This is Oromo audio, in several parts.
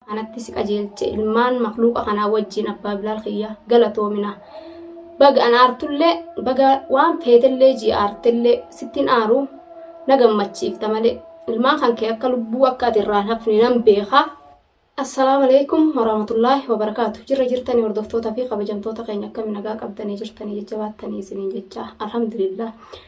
anatti si qajeelche ilmaan makluuqa kanaa wajjiin abbaa bilaal kiyya galatoominaa baga an aartullee baga waan feetellee jii aartellee sittiin aaru na gammachiifta malee ilmaan kan kee akka lubbuu akka ati irraan hafne nan beeka assalaamu alaikum warahmatullaahi wabarakaatu jirra jirtanii hordoftoota fi kabajamtoota keenya akkami nagaa qabdanii jirtanii jajjabaattanii isiniin jecha alhamdulillah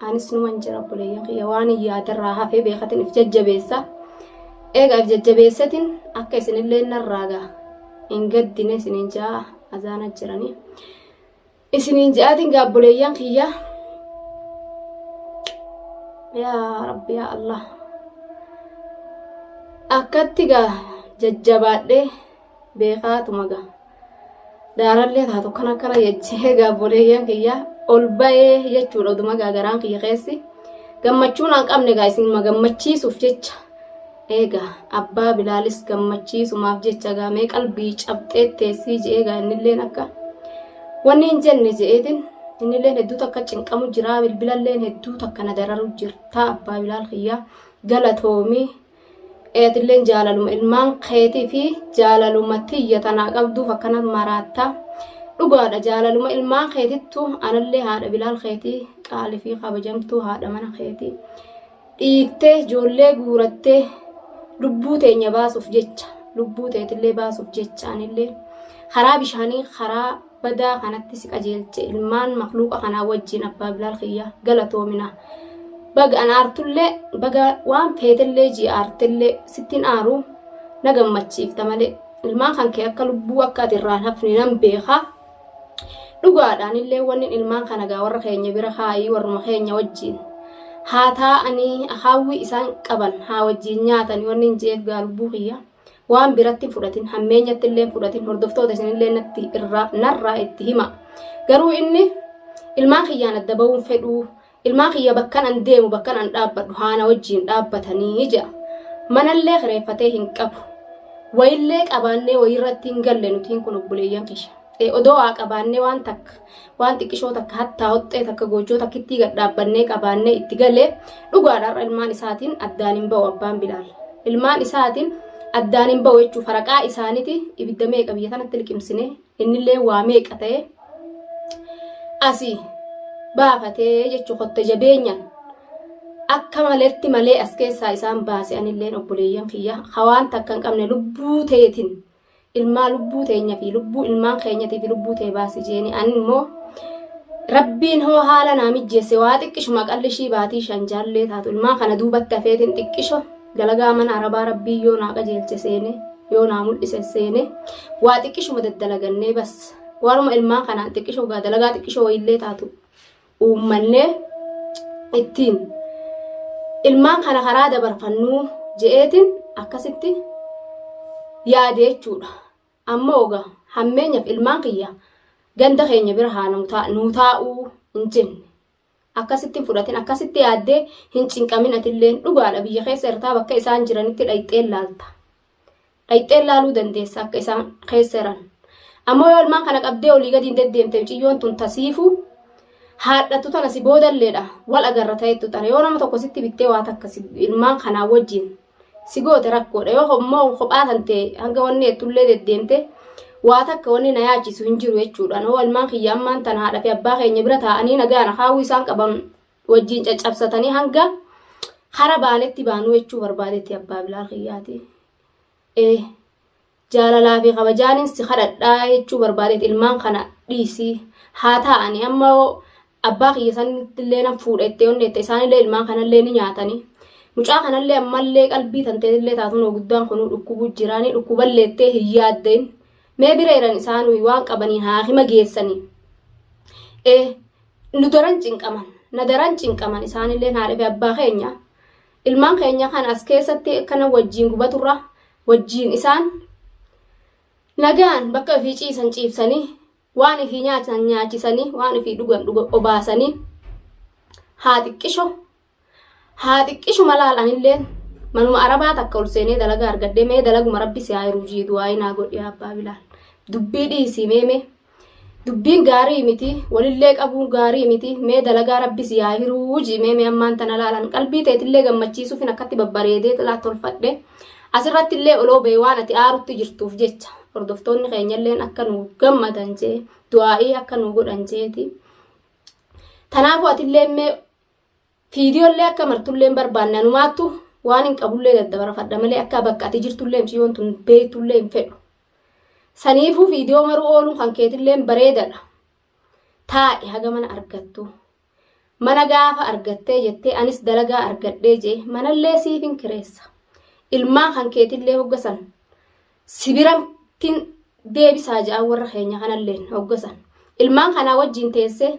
Anis numan jira obboleeyyan kiyya waan yaadarraa hafee beekatin if jajjabeessa. Eega if jajjabeessetin akka isinillee narraa ga'a. Hin gaddine isiniin ja'a azaana jiranii. Isiniin ja'aatiin gaa obboleeyyan kiyya. Yaa Rabbi yaa Allah. Akkatti gaa jajjabaadhee beekaa tumaga daarallee taatu kan akkana jechee gaabboleeyyan kiyya ol ba'ee jechuudha oduma gaagaraan kiyya keessi gammachuun an qabne gaa isin gammachiisuuf jecha eegaa abbaa bilaalis gammachiisumaaf jecha gaa mee qalbii cabxee teessii je'ee gaa innilleen akka wanni hin jenne je'eetin innilleen hedduu takka cinqamu jiraa bilbilalleen hedduu takka na dararu jirtaa abbaa bilaal kiyyaa galatoomii Eetilleen jaalaluma ilmaan keetii fi jaalaluma tiyya tanaa qabduuf akkana maraatta. Dhugaadha jaalaluma ilmaan keetittu anallee haadha bilaal keetii qaalii fi kabajamtuu haadha mana keetii. Dhiiftee ijoollee guurattee lubbuu teenya baasuuf jecha lubbuu teetillee baasuuf jecha anillee karaa bishaanii karaa badaa kanatti si qajeelche ilmaan makluuqa kanaa wajjiin abbaa bilaal kiyya galatoominaa baga an aartullee baga waan feetellee jii aartellee sittiin aaru na gammachiifta malee ilmaan kan kee akka lubbuu akka ati irraan hafne nan beeka dhugaadhaan illee wanni ilmaan kana gaa warra keenya bira kaa'ii warruma keenya wajjiin haa taa'anii akaawwii isaan qaban haa wajjiin nyaatanii wanni hin jeef gaa lubbuu kiyya. waan biratti hin fudhatin hammeenyatti illee hin fudhatin hordoftoota isinillee natti irraa narraa itti hima garuu inni ilmaan kiyyaan adda ba'uun fedhuu ilmaan kiyya bakkan an deemu bakkan an dhaabbadhu haana wajjiin dhaabbatanii ija manallee kireeffatee hin qabu wayillee qabaannee wayirratti hin galle nutiin kun obboleeyyan kiyya Ee odoo waa qabaannee waan takka waan xiqqishoo takka hattaa hoxxee takka goojjoo takkittii gad dhaabbannee qabaannee itti gale dhugaadha har'a ilmaan isaatiin addaan hin ba'u abbaan bilaal ilmaan isaatiin addaan hin ba'u jechuun faraqaa isaaniiti ibidda meeqa biyya kanatti liqimsine innillee waa meeqa ta'e asii baafatee jechuun kotta jabeenyaan akka maleetti malee as keessaa isaan baase anilleen obboleeyyan kiyya hawaan takka hin qabne lubbuu teetiin ilmaa lubbuu teenya fi lubbuu ilmaan keenyatii fi lubbuu tee baasi jeeni an immoo rabbiin hoo haala naa mijjeesse waa xiqqishu maqalli ishii baatii shan jaallee taatu ilmaan kana duubatti hafeetiin xiqqisho dalagaa mana arabaa rabbii yoo naa qajeelche seene yoo naa mul'ise seene waa xiqqishuma daddalagannee bas waanuma ilmaan kanaan xiqqisho gaa dalagaa xiqqisho wayiillee taatu uummannee ittiin ilmaan kana karaa dabarfannuu je'eetiin akkasitti yaade jechuudha. Amma oga hammeenyaaf ilmaan kiyya ganda keenya bira haa nuu taa'uu hin jenne. Akkasitti hin fudhatin akkasitti yaaddee hin cinqamin atilleen dhugaadha biyya keessa irtaa bakka isaan jiranitti dhayxeen laalta. dhayxee laaluu dandeessa akka isaan keessa jiran ammoo yoo ilmaan kana qabdee olii gadi hin deddeemte miciyyoon tun tasiifu haadhattu tana si boodalleedha wal agarra ta'ettu tana yoo nama tokko sitti bittee waa takka ilmaan kanaa wajjin si goote rakkoodha yoo immoo kophaa kan ta'e hanga wanni ettullee deddeemte waa takka wanni na yaachisu hin jiru jechuudha noo ilmaan kiyya ammaan tana haadha fi abbaa keenya bira taa'anii nagaa na kaawuu isaan qaban wajjiin caccabsatanii hanga hara baanetti baanuu jechuu barbaadetti abbaa bilaal kiyyaati. Ee jaalalaa fi kabajaanin si kadhadhaa jechuu barbaadetti ilmaan kana dhiisii haa taa'anii amma yoo abbaa kiyya sanitti illee nan fuudha itti onneette isaanillee ilmaan kanallee ni nyaatanii. Mucaa kanallee ammallee qalbii tanteetillee taatunoo guddaan kunuu dhukkubuu jiraanii dhukkuballeettee hin yaaddeen mee bireeran isaanuu waan qabaniin haakima geessanii. Ee nu daran cinqaman na daran cinqaman isaanillee haadhafi abbaa keenya ilmaan keenya kan as keessatti akkana wajjiin gubaturra wajjiin isaan nagaan bakka ofii ciisan ciibsanii waan ofii nyaatan nyaachisanii waan ofii dhugan dhuga obaasanii haa xiqqisho haa xiqqishuma laal anilleen manuma arabaa takka ol seenee dalagaa argadhee mee dalaguma rabbi si haa hiruujii du'aayi naa godhi yaa abbaa bilaal dubbii dhiisii mee mee dubbiin gaarii miti walillee qabuun gaarii miti mee dalagaa rabbi si haa hiruujii mee mee ammaan tana laalan qalbii teetillee gammachiisuufin akkatti babbareedee xilaa tolfadhe asirratti illee oloo ba'e waan ati aarutti jirtuuf jecha hordoftoonni keenyalleen akka nu gammadan jee du'aa'ii akka nu godhan jeeti. Kanaafuu atillee mee Fiidiyoollee akka martulleen barbaanna numaattu waan hin qabullee daddabarafadha malee akka bakka ati jirtullee msiyoon tun beeytullee hin fedhu. Saniifuu fiidiyoo maruu ooluun kan keetilleen bareedadha. Taa'i haga mana argattu. Mana gaafa argattee jettee anis dalagaa argadhee jee manallee siifin kireessa. Ilmaan kan keetillee hoggasan sibirattin deebisaa ja'an warra keenya kanalleen hoggasan. Ilmaan kanaa wajjin teessee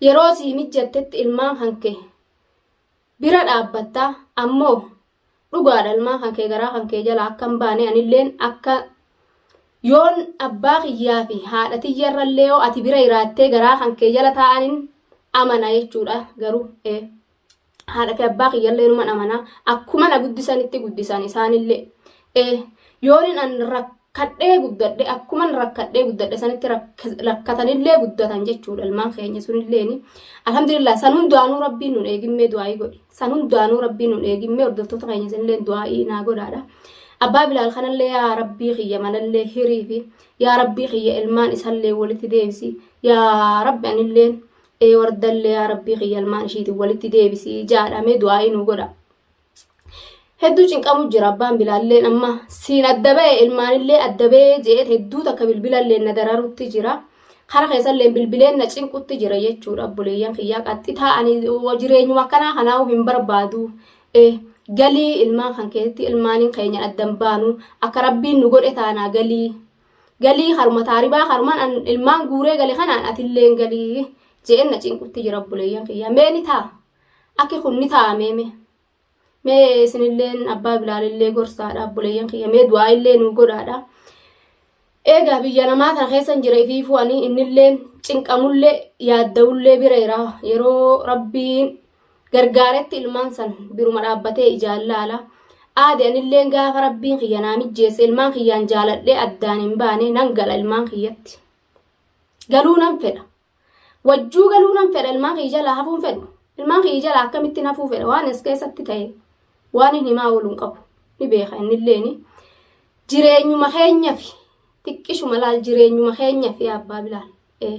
Yeroo sii mijjattetti ilmaan kanke bira dhaabbatta ammoo dhugaadha ilmaan kankee garaa kankee jala akka hin baane anilleen akka yoon abbaa kiyyaa fi haadha tiyyarrallee yoo ati bira jiraattee garaa kankee jala taa'anin amana jechuudha garuu haadha fi abbaa kiyyallee numan amanaa akkuma na guddisanitti guddisan isaanillee yoonin an rakkadhee guddadhe akkuman rakkadhee guddadhe sanitti rakkatanillee guddatan jechuudha ilmaan keenya sunilleeni alhamdulillah san hundaanuu rabbiin nun eegimmee du'aa'ii godhi san hundaanuu rabbiin nun eegimmee hordoftoota keenya isinilleen du'aa'ii naa godhaadha abbaa bilaal kanallee yaa rabbii kiyya manallee hiriifi yaa rabbii kiyya ilmaan isallee walitti deebisi yaa rabbi anilleen ee wardallee yaa rabbii kiyya ilmaan ishiitiin walitti deebisi jaadhamee du'aa'ii nu godha. Hedduu cinqamu jira abbaan bilaalleen amma siin adda ba'e ilmaanillee adda ba'ee je'eet hedduu takka bilbilalleen na dararutti jira. Kara keessalleen bilbileen na cinqutti jira jechuudha obboleeyyan kiyyaa qaxxi taa'anii jireenyuma akkanaa kanaa'uu hin barbaadu. Galii ilmaan kan keessatti ilmaaniin keenya addan baanu akka rabbiin nu godhe taanaa galii. Galii harma taaribaa harman an ilmaan guuree gale kanaan atilleen galii je'een na cinqutti jira obboleeyyan kiyya. Mee ni ta'a? Akki kun ni ta'a mee mee? Mee isinilleen abbaa bilaalillee gorsaadha obboleeyyan kiyya mee du'aa illee nuu godhaadha. Eegaa biyya namaa kana keessan jira ifii fu'anii innilleen cinqamullee yaadda'ullee bira jira yeroo rabbiin gargaaretti ilmaan san biruma dhaabbatee ijaan laala aade anilleen gaafa rabbiin kiyya naa mijjeesse ilmaan kiyyaan jaaladhee addaan hin baane nan gala ilmaan kiyyatti galuu nan fedha wajjuu galuu nan fedha ilmaan kiyya jalaa hafuun fedhu ilmaan kiyya jalaa akkamittiin hafuu fedha waan as keessatti ta'e waan hin himaa ooluun qabu ni beeka innilleen jireenyuma keenyafi xiqqishuma laal jireenyuma keenyafi abbaa bilaal ee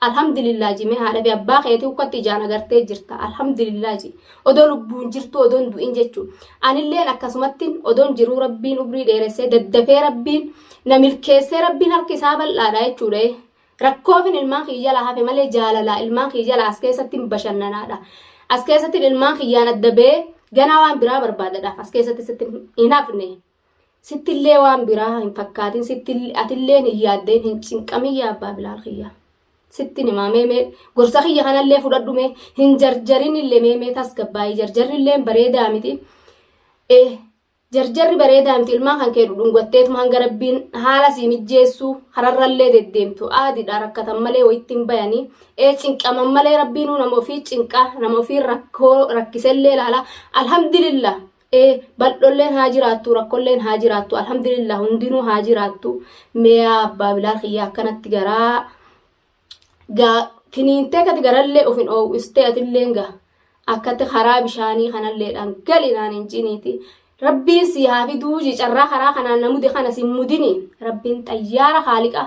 Alhamdulillah ji mee haadha fi abbaa keetii ukkatti ijaan agartee jirta alhamdulillah ji odoo lubbuun jirtu odoon du'in jechuun anilleen akkasumattiin odoon jiruu rabbiin umrii dheeressee daddafee rabbiin na milkeessee rabbiin harki isaa bal'aadha jechuudha rakkoofin ilmaan kiyya jala hafe malee jaalalaa ilmaan kiyya jala as keessattiin bashannanaadha as keessattiin ilmaan kiyyaan adda ba'ee ganaa waan biraa barbaadadhaaf as keessatti sitti hin hafne. Sittillee waan biraa hin fakkaatin sitti atilleen hin yaaddeen hin cinqamin yaa abbaa bilaal kiyya. Sittin himaa mee mee gorsa kiyya kanallee fudhadhu mee hin jarjarinillee mee mee tasgabbaa'ii jarjarrilleen bareedaa miti. Eh jarjarri bareedaa miti ilmaan kan kee dhudhungatteetuma hanga rabbiin haala sii mijjeessu kararrallee deddeemtu aadiidha rakkatan malee wayitti hin bayanii ee cinqaman malee rabbiinuu nama ofii cinqaa nama ofii rakkoo rakkisellee ilaala alhamdulillah Ee bal'olleen haa jiraattu rakkolleen haa jiraattu alhamdulillah hundinuu haa jiraattu meeyaa abbaa bilaal kiyyaa akkanatti garaa gaa kiniintee akkati garallee ofin oo'istee atilleen gaa akkatti karaa bishaanii kanalleedhaan galinaan hin ciniiti rabbiin sii haa fiduu jii carraa karaa kanaan na mude kana sin mudini rabbiin xayyaara haaliqa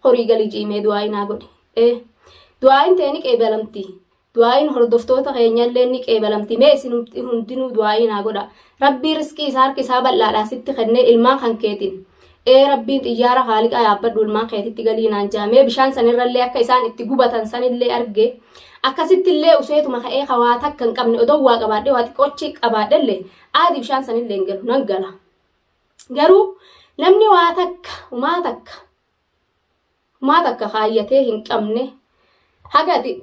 horii gali jiimee du'aa inaa godhi ee du'aa hin ta'e ni qeebalamti Du'aa'iin hordoftoota keenyallee ni qeebalamti. Mee isin hundinuu du'aa'ii naa godha. Rabbii risqii isaa harki isaa bal'aadhaan sitti kennee ilmaan kan keetiin. Ee rabbiin xiyyaara haaliqaa yaabbadhu ilmaan keetitti galii naan jaa. Mee bishaan sanirrallee akka isaan itti gubatan sanillee arge. Akkasittillee useetuma ka'ee ka waa takka hin qabne odoo waa qabaadhee waa xiqqoochi qabaadhellee aadi bishaan sanillee hin galu nan gala. Garuu namni waa takka umaa takka Humaa takka kaayyatee hin qabne haga ati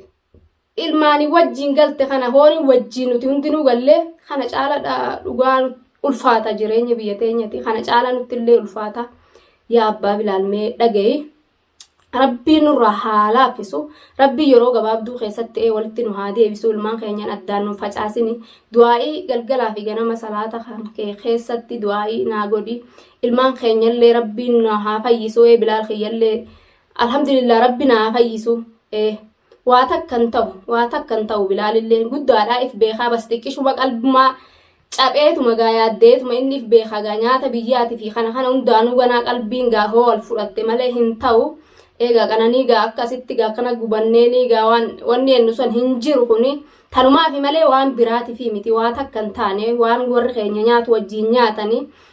ilmaanii wajjiin galte kana hooriin wajjiin nuti hundinuu gallee kana caaladha dhugaa ulfaata jireenya biyya teenyati kana caalaa nutti illee ulfaata yaa abbaa bilaal mee dhaga'i rabbiin nurraa haa laaffisu rabbii yeroo gabaabduu keessatti ta'ee walitti nu haa deebisu ilmaan keenyan addaan nu facaasini du'aa'ii galgalaa fi ganama salaata kan kee keessatti du'aa'ii naa godhi ilmaan keenyallee rabbiin nu haa fayyisu ee bilaal kiyyallee alhamdulillah rabbi na haa fayyisu ee waa takka hin ta'u waa takka hin ta'u bilaalillee guddaadhaa if beekaa bas xiqqishuma qalbumaa capheetuma gaa yaaddeetuma inni if beekaa gaa nyaata biyyaati fi kana kana hundaanuu ganaa qalbiin gaa hoo wal fudhatte malee hin ta'u eegaa qananii gaa akkasitti gaa kana gubanneenii gaa waan wanni ennu san hin jiru kuni tanumaafi malee waan biraatifi miti waa takka hin taane waan warri keenya nyaatu wajjiin nyaatanii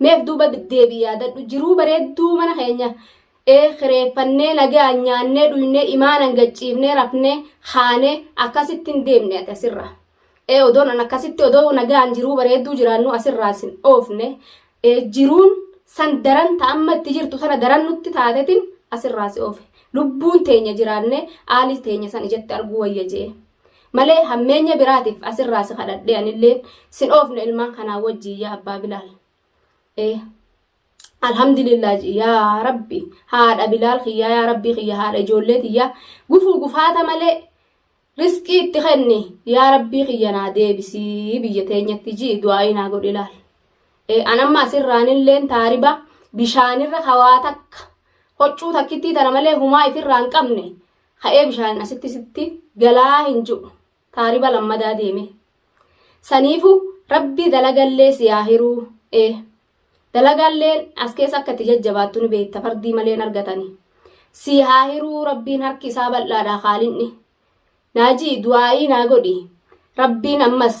Meef duuba deebii yaadadhu jiruu bareedduu mana keenya ee kireeffannee nagaan nyaannee dhuynee imaanan gachiifnee rafnee kaanee akkasitti hin deemne ati asirra. Ee odoon an akkasitti odoo nagaan jiruu bareedduu jiraannuu asirraa sin oofne ee jiruun san daran ta amma itti jirtu sana daran nutti taatetin asirraa si oofe. Lubbuun teenya jiraannee aalii teenya san ijatti arguu wayya jee. malee hammeenya biraatiif asirraa si kadhadhee anilleen sin oofne ilmaan kanaa wajjin yaa abbaa bilaal ee alhamdulillah yaa rabbi haadha bilaal kiyyaa yaa rabbii kiyya haadha ijoollee tiyyaa gufuu gufaata malee risqii itti kenni yaa rabbii kiyya naa deebisii biyya teenyatti ji'i du'aa'ii naa godhi laal ee anamma asirraanilleen taariba bishaanirra hawaa takka hoccuu takkittii tana malee humaa ifirraa hin qabne Ka'ee bishaan asitti sitti galaa hin ju'u taariba lammadaa deeme. Saniifu rabbi dalagallee si yaa hiruu ee. Dalagaalleen as keessa akka itti jajjabaattu ni beekta fardii malee hin argatani. Sii haa hiruu rabbiin harki isaa bal'aadha kaalinni. Naa ji'i du'aa'ii naa godhi. Rabbiin ammas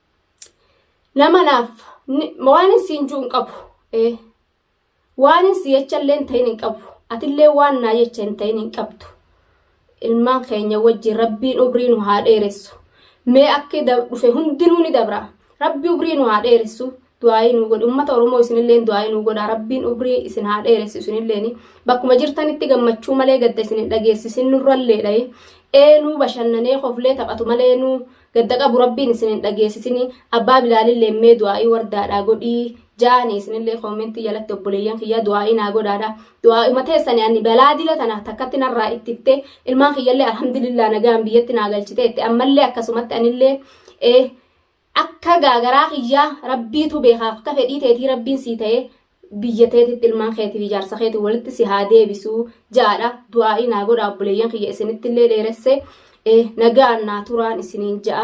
Nama naaf waan siin juu hin qabu. Waan si jechallee hin ta'in hin qabu. Atillee waan naa jecha hin ta'in hin qabdu. Ilmaan keenya wajjin rabbiin umrii nu haa dheeressu. Mee akki dhufe hundinuu ni dabra. Rabbi umrii nu haa dheeressu. du'aayii nu godhe uummata oromoo isinilleen du'aayii nu godha rabbiin umrii isin haa dheeressu isinilleen bakkuma jirtanitti gammachuu malee gadda isin hin dhageessisin nurralleedha ee nu bashannanee koflee taphatu malee nu Gadda qabu rabbiin isin hin dhageesisini abbaa bilaalilleen mee du'aa'ii wardaadhaa godhii jaani isinillee koomentii jalatti obboleeyyan kiyya du'aa'ii naa godhaadha du'aa'uma teessani ani balaa dila tana takkatti narraa ittifte ilmaan kiyyallee alhamdulillah nagaan biyyatti naa galchiteetti ammallee akkasumatti anillee ee akka gaagaraa kiyyaa rabbiitu beekaaf akka fedhii teetii rabbiin sii ta'ee biyya teetitti ilmaan keetiif ijaarsa keetiin walitti si haa deebisu ja'aadha du'aa'ii naa godha obboleeyyan kiyya isinittillee dheeresse nagaan naa turaan isiniin ja'a.